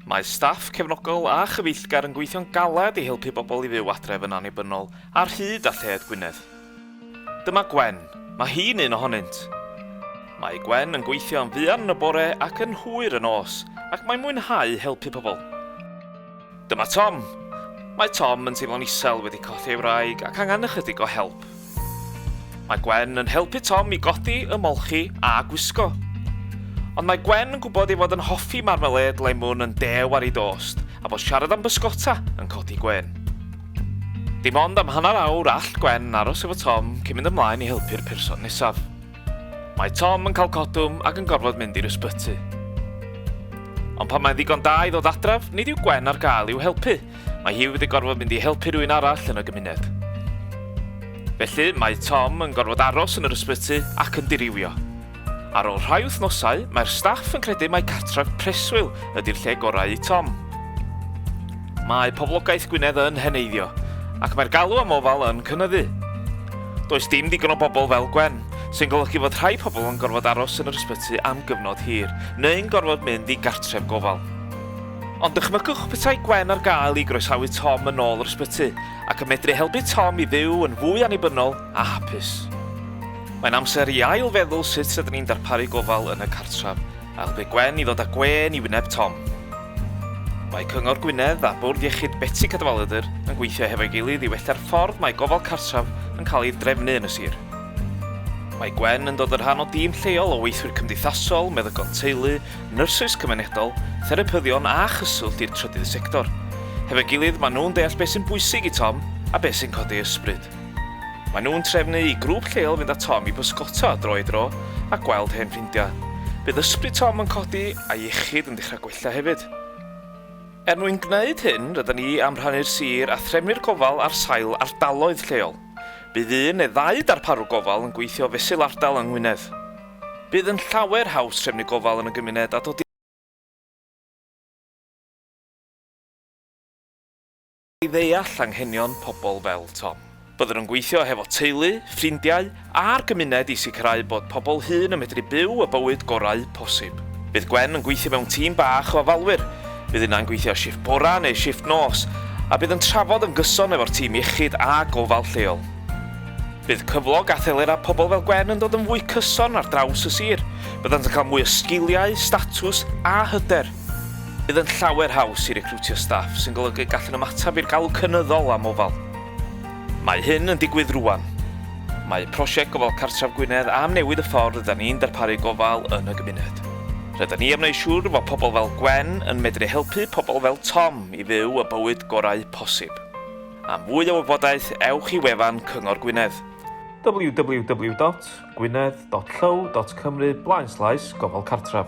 Mae staff cefnogol a chyfeillgar yn gweithio'n galed i helpu bobl i fyw adref yn annibynnol ar hyd a lled Gwynedd. Dyma Gwen, mae hi'n un ohonynt. Mae Gwen yn gweithio yn fuan yn y bore ac yn hwyr yn nos, ac mae'n mwynhau helpu pobl. Dyma Tom. Mae Tom yn teimlo'n isel, wedi colli ei wraig ac angen ychydig o help. Mae Gwen yn helpu Tom i godi, ymolchi a gwisgo. Ond mae Gwen yn gwybod ei fod yn hoffi marmalêd lemwn yn dew ar ei dost a bod siarad am bysgota yn codi gwên. Dim ond am hanner awr all Gwen aros efo Tom cyn mynd ymlaen i helpu'r person nesaf. Mae Tom yn cael codwm ac yn gorfod mynd i'r ysbyty. Ond pan mae'n ddigon da i ddod adref, nid yw Gwen ar gael i'w helpu. Mae hi wedi gorfod mynd i helpu rhywun arall yn y gymuned. Felly, mae Tom yn gorfod aros yn yr ysbyty ac yn dirywio. Ar ôl rhai wythnosau, mae'r staff yn credu mai cartref preswyl ydy'r lle gorau i Tom. Mae poblogaeth Gwynedd yn heneiddio, ac mae'r galw am ofal yn cynyddu. Does dim digon o bobl fel Gwen, sy'n golygu fod rhai pobl yn gorfod aros yn yr ysbyty am gyfnod hir, neu'n gorfod mynd i gartref gofal. Ond dychmygwch petai Gwen ar gael i groesawu Tom yn ôl yr ysbyty, ac yn medru helpu Tom i fyw yn fwy annibynnol a hapus. Mae'n amser i ail-feddwl sut rydyn ni'n darparu gofal yn y cartref, Aeth pe gwen i ddod â gwên i wyneb Tom. Mae Cyngor Gwynedd a Bwrdd Iechyd Betsi Cadwaladr yn gweithio hefo'i gilydd i wella'r ffordd mae gofal cartref yn cael ei drefnu yn y sir. Mae Gwen yn dod yn rhan o dîm lleol o weithwyr cymdeithasol, meddygon teulu, nyrsys cymunedol, therapyddion a chyswllt i'r trydydd sector. Hefo'i gilydd, maen nhw'n deall beth sy'n bwysig i Tom a beth sy'n codi ei ysbryd. Maen nhw'n trefnu i grŵp lleol fynd â Tom i bysgota dro i dro a gweld hen ffrindiau. Bydd ysbryd Tom yn codi a iechyd yn dechrau gwella hefyd. Er mwyn gwneud hyn, rydyn ni am rhannu'r sir a threfnu'r gofal ar sail ardaloedd lleol. Bydd un neu ddau darparwr gofal yn gweithio fesul ardal yng Ngwynedd. Bydd yn llawer haws trefnu gofal yn y gymuned a dod i i ddeall anghenion pobl fel Tom. Byddwn yn gweithio hefo teulu, ffrindiau a'r gymuned i sicrhau bod pobl hŷn yn medru byw y bywyd gorau posib. Bydd Gwen yn gweithio mewn tîm bach o ofalwyr, bydd unau'n gweithio shifft bora neu shifft nos, a bydd yn trafod yn gyson efo'r tîm iechyd a gofal lleol. Bydd cyflog a thelerau pobl fel Gwen yn dod yn fwy cyson ar draws y sir. Byddant yn cael mwy o sgiliau, statws a hyder. Bydd yn llawer haws i recriwtio staff sy'n golygu y gallwn ymateb i'r galw cynyddol am ofal. Mae hyn yn digwydd rŵan. Mae prosiect Gofal Cartref Gwynedd am newid y ffordd rydyn ni'n darparu gofal yn y gymuned. Rydyn ni am wneud siŵr fod pobl fel Gwen yn medru helpu pobl fel Tom i fyw y bywyd gorau posib. Am fwy o wybodaeth, ewch i wefan Cyngor Gwynedd. www.gwynedd.llyw.cymru blaenslaes gofal cartref.